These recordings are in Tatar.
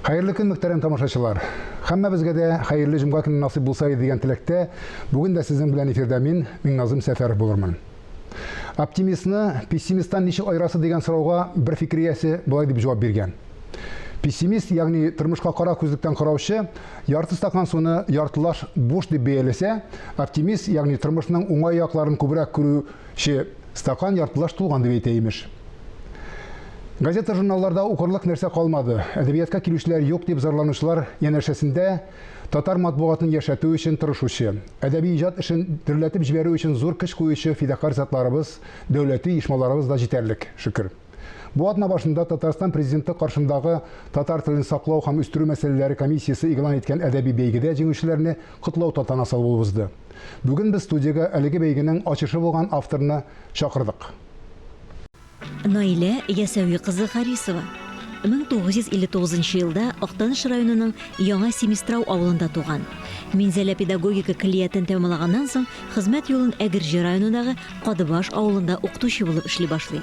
Хәерле көн, мөхтәрәм тамашачылар! Хәммәбезгә дә хәерле җомга көне насыйп булса иде дигән теләктә, бүген дә сезнең белән эфирдә мин, Миңназым Сәфәров булырмын. Оптимистны пессимисттан ничек айырасы дигән сорауга бер фикер иясе болай дип җавап биргән. Пессимист, ягъни тормышка кара күзлектән караучы, ярты стакан суны яртылаш буш дип бәяләсә, оптимист, ягъни тормышның уңай якларын күбрәк күрү Че, стакан яртылаш тулган дип әйтә, имеш. Газета-журналларда укырлык нәрсә калмады, әдәбиятка килүчеләр юк, дип зарланучылар янәшәсендә татар матбугатын яшәтү өчен тырышучы, әдәби иҗат эшен дөрләтеп җибәрү өчен зур көч куючы фидакарь затларыбыз, дәүләти оешмаларыбыз да җитәрлек, шөкер. Бу атна башында Татарстан президенты каршындагы татар телен саклау һәм үстерү мәсьәләләре комиссиясе игълан иткән әдәби бәйгедә җиңүчеләрне котлау тантанасы булып узды. Бүген без студиягә әлеге бәйгенең ачышы булган авторны чакырдык. Наилә Ясәви кызы Харисова 1959 елда Актаныш районының Яңа Семистрау авылында туган. Минзәлә педагогика көллиятен тәмамлаганнан соң хезмәт юлын Әгерҗе районындагы Кадыбаш авылында укытучы булып эшли башлый.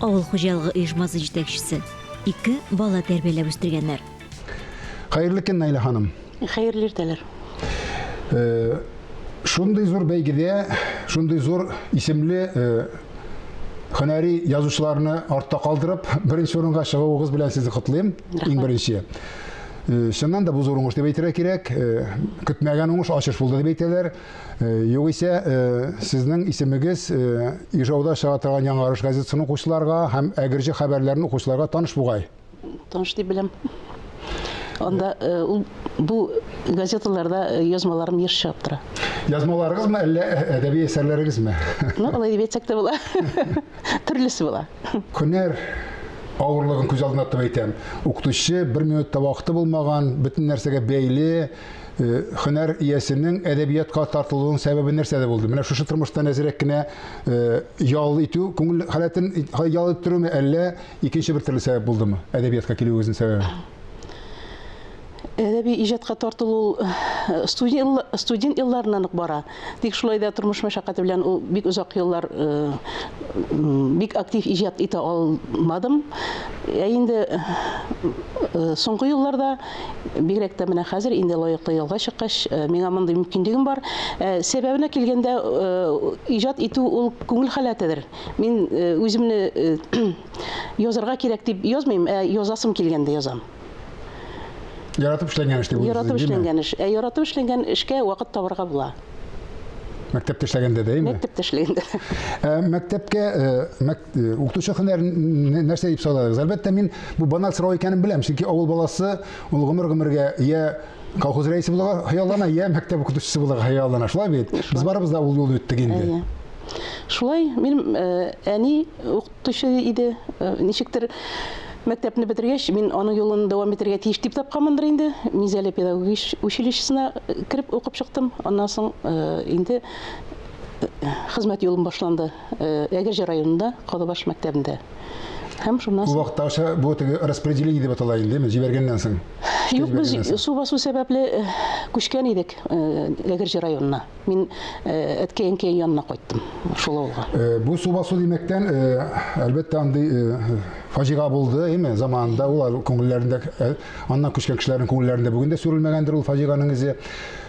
Авыл хуҗалыгы оешмасы җитәкчесе. Ике бала тәрбияләп үстергәннәр. Хәерле көн, Наилә ханым. Хәерле иртәләр. Э, шундый зур бәйгедә, шундый зур исемле э, һөнәри язучыларны артта калдырып, беренче урынга чыгуыгыз белән сезне котлыйм. Иң беренче. Э, чыннан да бу зур уңыш дип әйтергә кирәк. Көтмәгән уңыш ачыш булды дип әйтәләр. Югыйсә, сезнең исемегез Ижауда чыга торган Яңарыш газетасын укучыларга һәм Әгерҗе хәбәрләрен укучыларга таныш бугай? Таныш дип беләм. Анда ул бу газеталарда язмаларым еш чыгып тора. Язмаларыгызмы, әллә әдәби әсәрләрегезме? Ну, алай дип әйтсәк тә була. Төрлесе була. Һөнәр авырлыгын күз алдына тотып әйтәм. Укытучы бер минут та вакыты булмаган, бөтен нәрсәгә бәйле, Э, хөнәр иясенең әдәбиятка тартылуының сәбәбе нәрсәдә булды? Менә шушы тормыштан әзерәк кенә э, ял итү, күңел халәтен ял иттерүме, әллә икенче бер төрле сәбәп булдымы? Әдәбиятка килүегезнең сәбәбе? Әдәби иҗатка тартылу э, студент елларыннан ук бара. Тик шулай да тормыш мәшәкате белән ул бик озак еллар бик актив иҗат итә алмадым. Ә инде соңгы елларда бигрәк тә менә хәзер инде лаеклы ялга чыккач, миңа мондый мөмкинлегем бар. Сәбәбенә килгәндә, иҗат итү ул күңел халәтедер. Мин үземне язарга кирәк дип язмыйм, ә язасым килгәндә язам. Яратып эшләнгән эш дип уйлыйсыз, Яратып эшләнгән эш. Ә яратып эшләнгән эшкә вакыт табарга була. Мәктәптә эшләгәндә дә, әйме? Мәктәптә эшләгәндә. Ә мәктәпкә э, мәк, э, укытучы һөнәрен нәрсә дип санадыгыз? Әлбәттә, мин бу банал сорау икәнен беләм, чөнки авыл баласы ул гомер-гомергә я колхоз рәисе булырга хыяллана, я мәктәп укытучысы булырга хыяллана. Шулай бит? Без барыбыз да ул юлны үттек инде. Шулай, мин э, әни укытучы иде. Э, ничектер мәктәпне бетергәч, мин аның юлын дәвам итәргә тиеш дип тапканмындыр инде. Мизәле педагогич училищесына э, кереп укып чыктым. Аннан соң э, инде хезмәт юлым башланды. Әгерҗе районында Калыбаш мәктәбендә. Һәм шуннан соң. Вакытта бу теге распределение дип атала инде, җибәргәннән соң. Юк, без су басу сәбәпле күчкән идек Әгерҗе районына. Мин әткәй-әнкәй янына кайттым, шул авылга. Бу су басу димәктән, әлбәттә, андый фаҗига булды, әйме, заманында ул күңелләрендә, аннан күчкән кешеләрнең күңелләрендә бүген дә сүрелмәгәндер ул фаҗиганың эзе.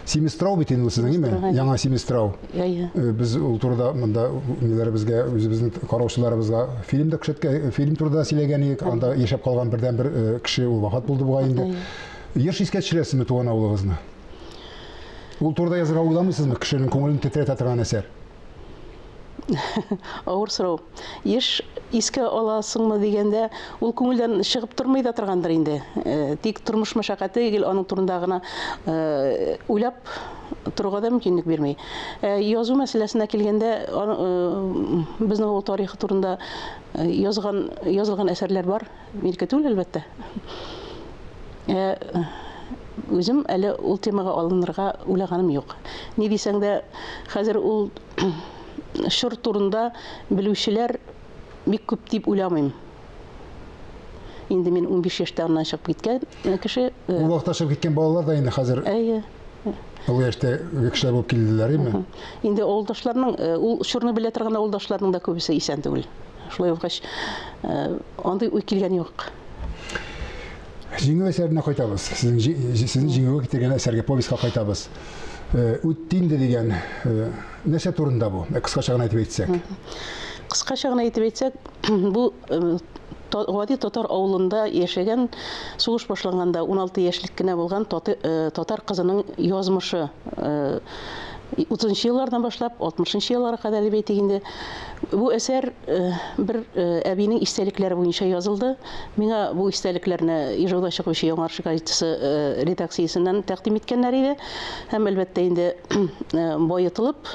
Семистрау бит инде сезнең, әйме? Яңа Семистрау. Без ул турыда монда ниләребезгә, үзебезнең караучыларыбызга фильм да күрсәткән, фильм турында сөйләгән идек. Анда яшәп калган бердәнбер кеше ул вафат булды бугай инде. Еш искә төшерәсезме туган авылыгызны? Ул турыда язырга уйламыйсызмы, кешенең күңелен тетрәтә торган әсәр? Авыр сорау. Еш искә аласыңмы дигәндә, ул күңелдән чыгып тормый да торгандыр инде. Э, тик тормыш мәшәкате гел аның турында гына э, уйлап торуга да мөмкинлек бирми. Э, язу мәсьәләсенә килгәндә, безнең авыл тарихы турында язган язылган әсәрләр бар. Иркә түгел, әлбәттә. Ә үзем әле ул темага алынырга уйлаганым юк. Ни дисәң дә, хәзер ул чор турында белүчеләр бик күп дип уйламыйм. Инде мин унбиш яшьтә аннан чыгып киткән. Э, кеше э, Ул вакытта чыгып киткән балалар да инде хәзер әйе олы яшьтә кешеләр булып килделәр име? инде авылдашларның э, ул чорны белә торган авылдашларның да күбесе исән түгел шулай булгач э, андый уй килгән юк Җиңү әсәренә кайтабыз. Сезнең җи- җи- сезне җиңүгә китергән әсәргә повестька кайтабыз. Э, Үтте инде дигән э, нәрсә турында бу? Э, Кыскача гына әйтеп әйтсәк. кыскача гына әйтеп әйтсәк бу Гади татар авылында яшәгән, сугыш башланганда 16 яшьлек кенә булган татар кызының язмышы. 30 еллардан башлап 60 елларга кадәр дип әйтик инде. Бу әсәр бер әбинең истәлекләре буенча язылды. Миңа бу истәлекләрне Ижауда чыгучы Яңарчы газетасы редакциясеннән тәкъдим иткәннәр иде. Һәм әлбәттә инде баетылып,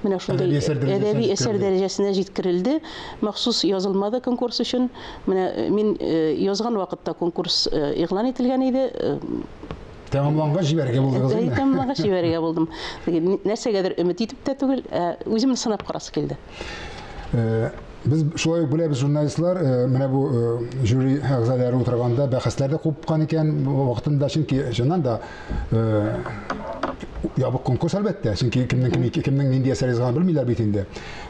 менә шундый әдәби әсәр дәрәҗәсенә җиткерелде. Махсус язылмады конкурс өчен. Менә мин язган вакытта конкурс игълан ителгән иде. Тәмамлангач җибәрергә булдыгыз инде. Тәмамлангач җибәрергә булдым. Нәрсәгәдер өмет итеп тә түгел, ә үземне сынап карасы килде. Э, без шулай ук беләбез журналистлар э, менә бу э, жюри әгъзалары утырганда бәхәсләр дә купкан икән вакытында чөнки чыннан да ябык конкурс әлбәттә чөнки кемнең кемнең нинди әсәр язганын белмиләр бит инде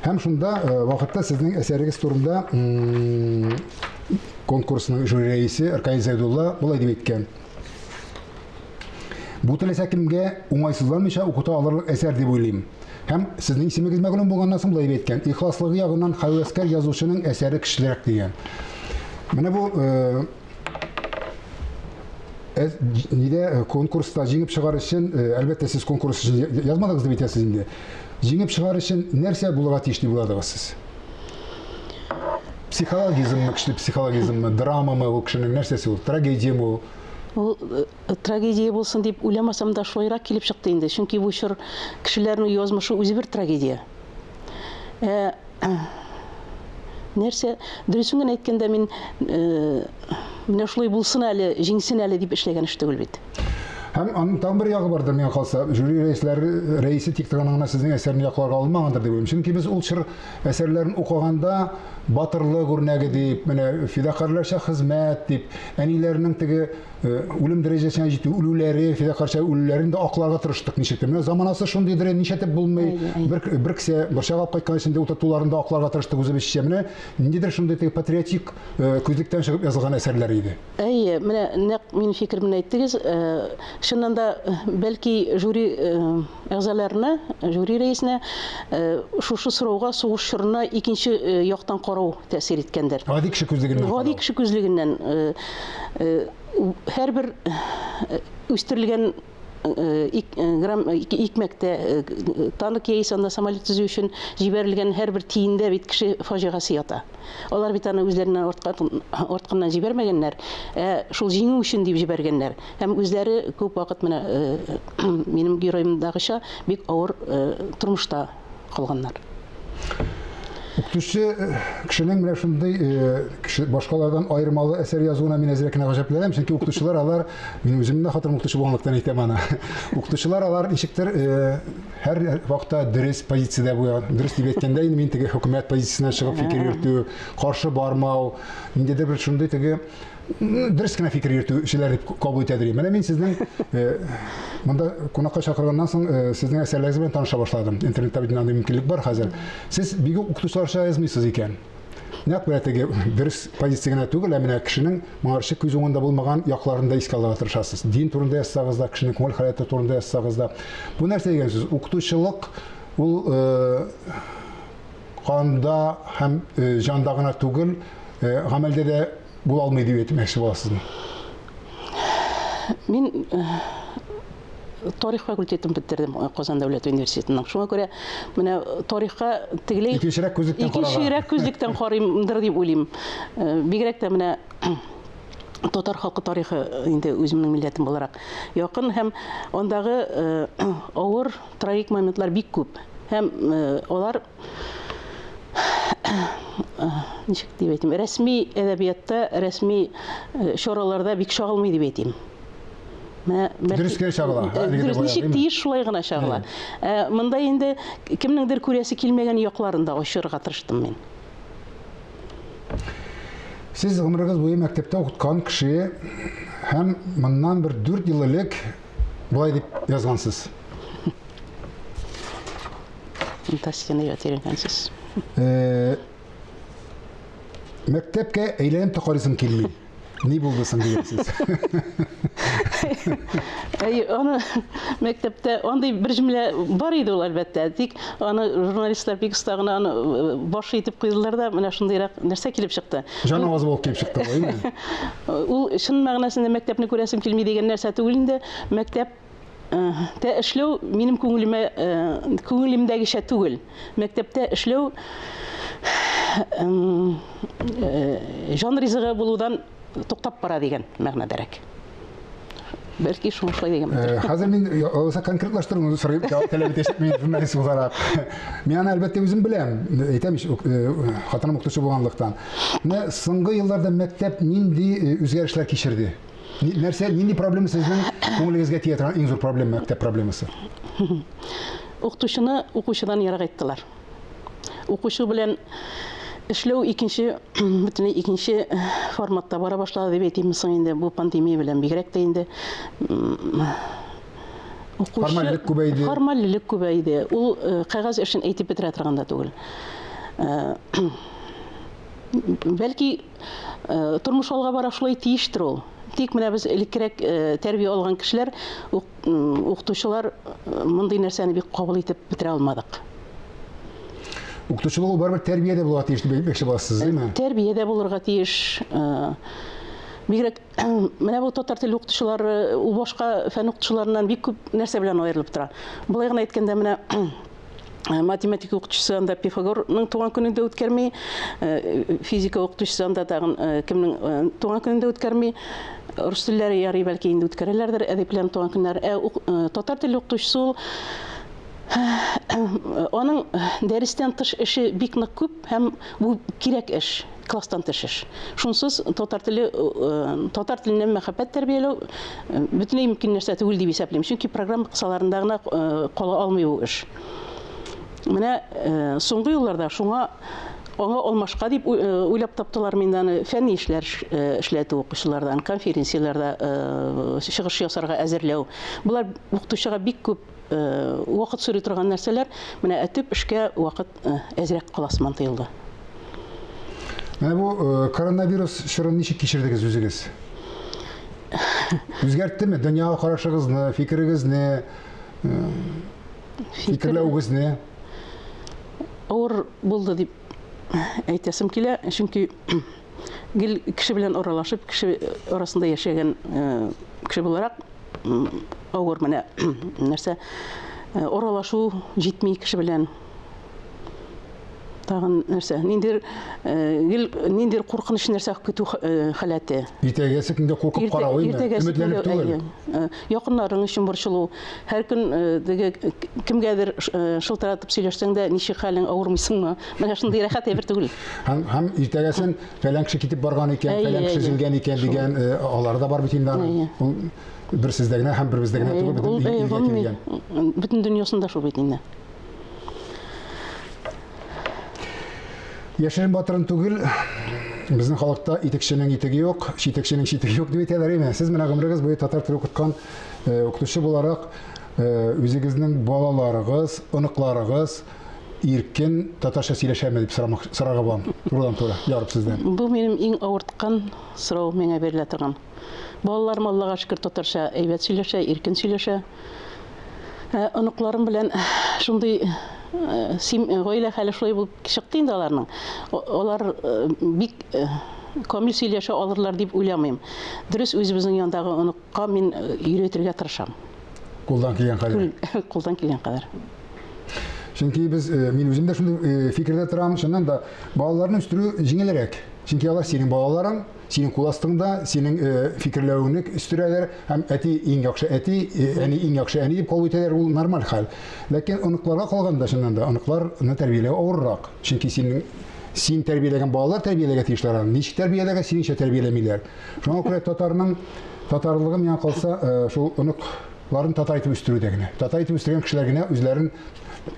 Һәм шунда вакытта сезнең әсәрегез турында конкурсның жюри рәисе Аркадий Зайдулла болай дип әйткән. Бу теләсә кемгә уңайсызланмыйча укыта алырлык әсәр дип уйлыйм. Һәм сезнең исемегез мәгълүм булганнан соң болай әйткән. Ихласлыгы ягыннан хәвәскәр язучының әсәре көчлерәк дигән. Менә бу Э, нидә э, конкурста җиңеп чыгар өчен э, әлбәттә сез конкурс өчен язмадыгыз дип әйтәсез инде җиңеп чыгар өчен нәрсә булырга тиеш дип уйладыгыз сез психологизммы көчле психологизммы драмамы ул кешенең нәрсәсе ул трагедиямы ул ул трагедия булсын дип уйламасам да шулайрак килеп чыкты инде чөнки бу чор кешеләрнең язмышы үзе бер трагедия Ә нәрсә, дөресен генә әйткәндә, мин менә шулай булсын әле, җиңсен әле дип эшләгән эш түгел бит. Һәм аның тагын бер ягы бардыр, миңа калса, жюри рәисләре рәисе тик торган гына сезнең әсәрне якларга алмагандыр дип уйлыйм. Чөнки без ул чор әсәрләрен укыганда батырлык үрнәге дип, менә фидакарьләрчә хезмәт дип, әниләрнең теге Э, үлем дәрәҗәсенә җитү үлүләре фидакарча үлүләрен дә акларга тырыштык ничектер менә заманасы шундыйдыр э, ничәтеп булмый бер бер кесә борчагап кайткан эчендә утыртуларын да акларга тырыштык үзебезчә менә ниндидер шундый теге патриотик э, күзлектән чыгып язылган әсәрләр иде әйе менә нәкъ минем фикеремне әйттегез чыннан да бәлки жюри Әгъзаларына, жюри рәисенә шушы сорауга сугыш чорына икенче яктан карау тәэсир иткәндер. Гади кеше күзлегеннән карау. Гади кеше күзлегеннән һәрбер үстерелгән грамм икмәктә танк яисә анда самолет төзү өчен җибәрелгән һәрбер тиендә бит кеше фаҗигасе ята. Алар бит аны үзләреннән артканнан җибәрмәгәннәр, ә шул җиңү өчен дип җибәргәннәр. Һәм үзләре күп вакыт менә минем героемдагыча бик авыр тормышта калганнар. Укытучы кешенең менә шундый э, башкалардан аермалы әсәр язуына мин әзрәк кенә гаҗәпләнәм, чөнки укытучылар алар, мин үземне дә хатырым укытучы булганлыктан әйтәм аны. Укытучылар алар ничектер э, һәр вакытта дөрес позициядә була. Дөрес дип әйткәндә инде мин теге хөкүмәт позициясеннән чыгып фикер йөртү, каршы бармау, ниндидер бер шундый теге дөрес кенә фикер йөртүчеләр дип кабул итә дим. Менә мин сезнең э, монда кунакка чакырганнан соң э, сезнең әсәрләрегез белән таныша башладым. Интернетта бит андый мөмкинлек бар хәзер. Сез бигү укытучыларча язмыйсыз икән. Нәкъ менә теге дөрес позиция генә түгел, ә менә кешенең моңарчы күз уңында булмаган якларын да искә алырга тырышасыз. Дин турында язсагыз да, кешенең күңел халәте турында язсагыз да. Бу нәрсә дигән сүз? Укытучылык ул э, канда һәм э, җанда гына түгел, э, гамәлдә дә була алмый дип әйтмәкче буласызмы? Мин тарих факультетын бетердем Казан дәүләт университетының. Шуңа күрә менә тарихка тегеләй икенчерәк күзлектән карарга. Икенчерәк күзлектән карыймдыр дип уйлыйм. Э, бигрәк тә менә татар халкы тарихы инде үземнең милләтем буларак якын һәм андагы э, авыр трагик моментлар бик күп. Һәм э, алар ничек дип әйтим, рәсми әдәбиятта, рәсми э, чараларда бик чагылмый дип әйтим. Менә дөрес кенә чагыла. Э, дөрес ничек тиеш шулай гына чагыла. Ә монда инде кемнеңдер күрәсе килмәгән якларын да ачырга тырыштым мин. Сез гомерегез буе мәктәптә укыткан кеше һәм моннан бер 4 ел элек болай дип язгансыз. Фантастиканы яратып өйрәнгәнсез. Э, мәктәпкә әйләнеп тә карыйсым килми. Ни булды соң дигәнсез? Әй, аны мәктәптә андый бер җөмлә бар иде ул әлбәттә. Тик аны журналистлар бик оста гына аны э, баш итеп куйдылар да, менә шундыйрак нәрсә килеп чыкты. Җан авазы булып килеп чыкты, әйме? Ул чын мәгънәсендә мәктәпне күрәсем килми дигән нәрсә түгел инде. Мәктәп Тә эшләү минем күңелемә күңелемдәгечә түгел. Мәктәптә эшләү җан ризыгы булудан туктап бара дигән мәгънәдәрәк. Бәлки шуңа шулай дигән. Э, хәзер мин алса э, конкретлаштыруны сорыйм, җавап таләп итәчәк мин журналист буларак. Мин аны әлбәттә үзем беләм, әйтәм ич, э, хатыным укытучы булганлыктан. Менә соңгы елларда мәктәп нинди үзгәрешләр кичерде? Нәрсә, нинди проблема сезнең күңелегезгә тия торган иң зур проблема, мәктәп проблемасы? Укытучыны укучыдан ерак иттеләр. Укучы белән эшләү икенче бөтенләй икенче форматта бара башлады дип әйтимме соң инде бу пандемия белән бигрәк тә инде укучы формальлек күбәйде формальлек күбәйде ул э, кәгазь эшен әйтеп бетерә торган да түгел э, бәлки Э, тормыш алга бара шулай тиештер ул тик менә без элеккерәк э, тәрбия алган кешеләр укытучылар э, мондый нәрсәне бик кабул итеп бетерә алмадык укытучылык ул барыбер тәрбиядә булырга тиеш дип әйтмәкче буласыз димме тәрбиядә булырга тиеш бигрәк менә бу татар теле укытучылары ул башка фән укытучыларыннан бик күп нәрсә белән аерылып тора былай гына әйткәндә менә Э, математика укытучысы анда пифагорның туган көнен дә үткәрми э, физика укытучысы анда тагын э, кемнең туган көнен дә үткәрми рус телләре ярый бәлки инде үткәрәләрдер әдипләрнең туган көннәре ә татар теле укытучысы ул аның дәрестән тыш эше бик нык күп Һәм бу кирәк эш, класстан тыш эш. Шунсыз татар теле, татар теленә мәхәббәт тәрбияләү бөтенләй мөмкин нәрсә түгел дип исәплим. Чөнки программа кысаларында гына кала алмый бу эш. Менә соңгы елларда шуңа аңа алмашка дип уйлап таптылар мин аны фәнни эшләр эшләтү укучылардан, конференцияләрдә чыгыш ясарга әзерләү. Болар укытучыга бик күп вакыт сорый торган нәрсәләр, менә әтеп эшкә вакыт әзрәк кала сыман тоелды. Менә бу коронавирус чорын ничек кичердегез үзегез? Үзгәрттеме дөньяга карашыгызны, фикерегезне, фикерләвегезне? Авыр булды дип әйтәсем килә, чөнки гел кеше белән аралашып, кеше арасында яшәгән кеше буларак, авыр менә нәрсә оралашу җитми кеше белән тагын нәрсә ниндидер гел ниндидер куркыныч нәрсә көтү халәте иртәгәсе көнгә куркып карау өметләнеп түгел якыннарың өчен борчылу һәр көн теге кемгәдер шылтыратып сөйләшсәң дә ничек хәлең авырмыйсыңмы менә шундый рәхәт әйбер түгел һәм һәм иртәгәсен фәлән кеше китеп барган икән, фәлән кеше җиңгән икән дигән, э, алар да бар бит инде аның. Ул бер сездә генә һәм бер бездә генә түгел, бөтен ил- илгә килгән. Бөтен дөньясында шул бит инде. Яшерен батырын түгел, безнең халыкта итекченең итеге юк, читекченең читеге юк дип әйтәләр име? Сез менә гомерегез буе татар теле укыткан э, укытучы буларак, э, үзегезнең балаларыгыз, оныкларыгыз, иркен татарча сөйләшәме дип сорамак, сорарга булам. Турыдан-туры, ярып сездән. Бу минем иң авырткан сорау миңа бирелә торган. Балаларым Аллага шөкер татарча әйбәт сөйләшә, иркен сөйләшә. Ә, оныкларым белән шундый э, сим, э, гаилә хәле шулай булып чыкты инде аларның. Алар э, бик камил сөйләшә алырлар дип уйламыйм. Дөрес, үзебезнең яндагы оныкка мин өйрәтергә тырышам. Кулдан килгән кадәр. Кулдан килгән кадәр. Чөнки без, э, мин үзем дә шундый э, фикердә торам, чыннан да балаларны үстерү җиңелрәк. Чөнки алар синең балаларың, синең кул астыңда, синең э, фикерләвеңне үстерәләр һәм әти иң яхшы әти, әни иң яхшы әни дип кабул итәләр, ул нормаль хәл. Ләкин оныкларга калганда чыннан да оныкларны тәрбияләү авыррак. Чөнки синең син тәрбияләгән балалар тәрбияләргә тиешләр аны. Ничек тәрбияләргә, синеңчә тәрбияләмиләр. Шуңа күрә татарның татарлыгы миңа калса, э, шул оныкларын татар итеп үстерүдә генә. Татар итеп үстергән кешеләр генә үзләрен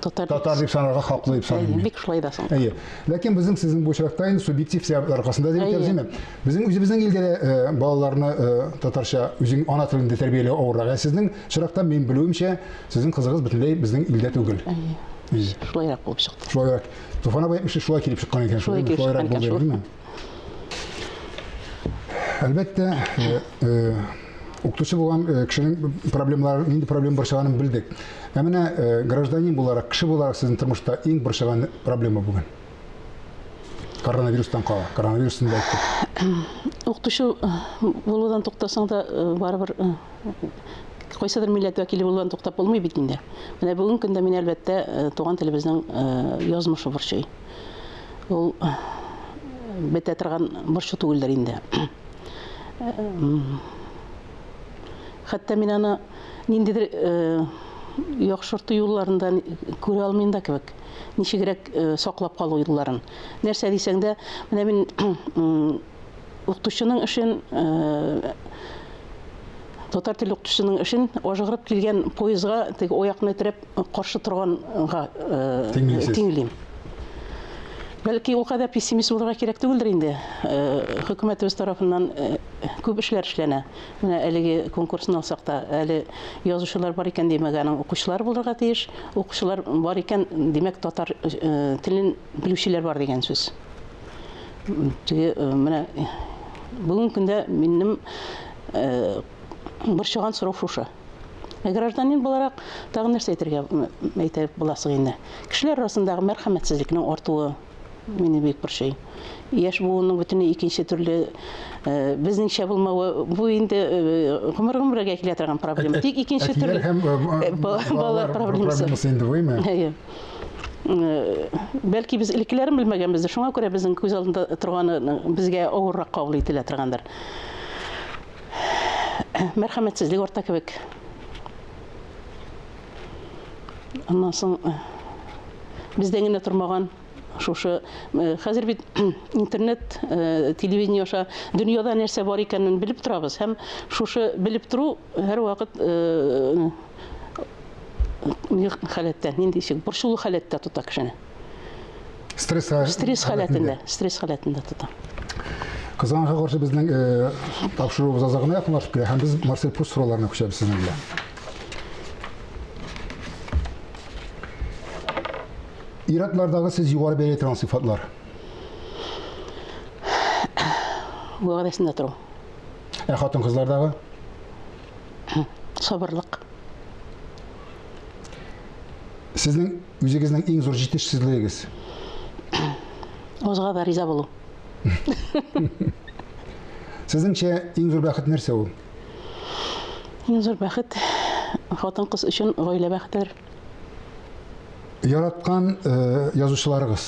татар, татар дип санарга хаклы дип саныйм. Бик шулай да соң. Әйе. Ләкин безнең сезнең бу очракта инде субъектив сәбәпләр аркасында дип әйтәбез, димме? Безнең үзебезнең илдә дә э, балаларны э, татарча үзең ана телендә тәрбияләү авыррак. Ә сезнең очракта мин белүемчә, сезнең кызыгыз бөтенләй безнең илдә түгел. Әйе. Шулайрак булып чыкты. Шулайрак. Туфан абый шулай килеп чыккан икән. Шулай килеп чыккан икән. Әлбәттә, э, э, укытучы булган э, кешенең проблемалары, нинди проблем борчыганын белдек. Ә менә гражданин буларак, кеше буларак сезнең тормышта иң борчыган проблема бүген? Коронавирустан кала, коронавирустан да әйттек. Укытучы булудан туктасаң да барыбер кайсыдыр милләт вәкиле булудан туктап булмый бит инде. Менә бүгенге көндә мин әлбәттә туган телебезнең язмышы борчый. Ул бетә торган борчу түгелдер инде. Хәтта мин аны ниндидер э, яхшырту юлларында күрә алмыйм да кебек. Ничегрәк э, саклап калу юлларын. Нәрсә дисәң дә, менә мин Укытучының эшен татар теле укытучының эшен ажыгырып килгән поездга теге оякны терәп каршы торганга тиңлим. Бәлки ул кадәр пессимист булырга кирәк түгелдер инде. Хөкүмәтебез тарафыннан күп эшләр эшләнә. Менә әлеге конкурсны алсак та, әле язучылар бар икән димәк, аның укучылар булырга тиеш. Укучылар бар икән, димәк, татар телен белүчеләр бар дигән сүз. Теге менә бүгенге көндә минем борчыган сорау шушы. Гражданин буларак тагын нәрсә әйтергә әйтә буласың инде. Кешеләр арасындагы мәрхәмәтсезлекнең артуы мине бик борчый. Яшь буынның бөтенләй икенче төрле безнеңчә булмавы, бу инде гомер гомергә килә торган проблема. Тик икенче төрле балалар проблемасы инде бу, әйе. бәлки без элеккеләрен белмәгәнбездер, шуңа күрә безнең күз алдында торганы безгә авыррак кабул ителә торгандыр. Мәрхәмәтсезлек арта кебек. Аннан соң бездән генә тормаган шушы хәзер бит интернет, телевидение аша дөньяда нәрсә бар икәнен белеп торабыз һәм шушы белеп тору һәрвакыт ник халәттә, нинди ишек, борчулы халәттә тота кешене. Стресс стресс халәтендә, стресс халәтендә тота. Кызганга каршы безнең э, тапшыруыбыз азагына якынлашып килә һәм без Марсель Пруст сорауларына күчәбез сезнең белән. Иратлардагы сез югары бәяләйтергән сыйфатлар. Вәгъдәсендә тору. Ә хатын-кызлардагы? Сабырлык. Сезнең үзегезнең иң зур җитешсезлегегез? Узга да риза булу. Сезнеңчә иң зур бәхет нәрсә ул? Иң зур бәхет хатын-кыз өчен гаилә бәхетедер. Яраткан э, язучыларыгыз.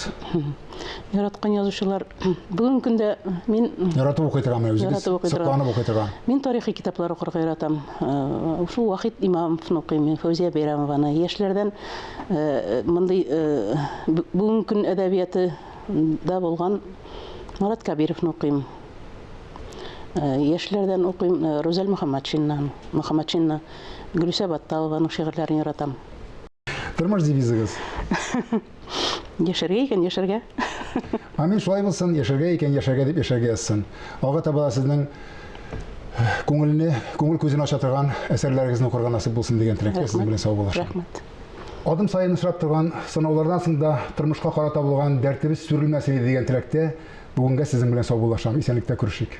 Яраткан язучылар бүгенге көндә мин Яратып укый торган үзегез. Яратып укый торган. Сокланып укый торган. Мин тарихи китаплар укырга яратам. Э, Шул Вахит Имамовны укыйм, мин, Фәүзия Бәйрәмованы. Яшьләрдән э, мондый э, б- бүгенге көн әдәбияты да булган Марат Кабировны укыйм. Э, Яшьләрдән укыйм э, Рузәл Мөхәммәтшиннан, Мөхәммәтшинны. Гөлүсә Батталованың шигырьләрен яратам. Тормыш девизыгыз? Яшәргә икән, яшәргә. Амин, шулай булсын, яшәргә икән, яшәргә дип яшәргә язсын. Алга таба да сезнең күңелне, күңел күзен ача торган әсәрләрегезне укырга насыйп булсын дигән теләктә сезнең белән саубуллашам. Рәхмәт. Адым саен очрап торган сынаулардан соң да тормышка карата булган дәртебез сүрелмәс иде дигән теләктә бүгенгә сезнең белән саубуллашам. Исәнлектә күрешик.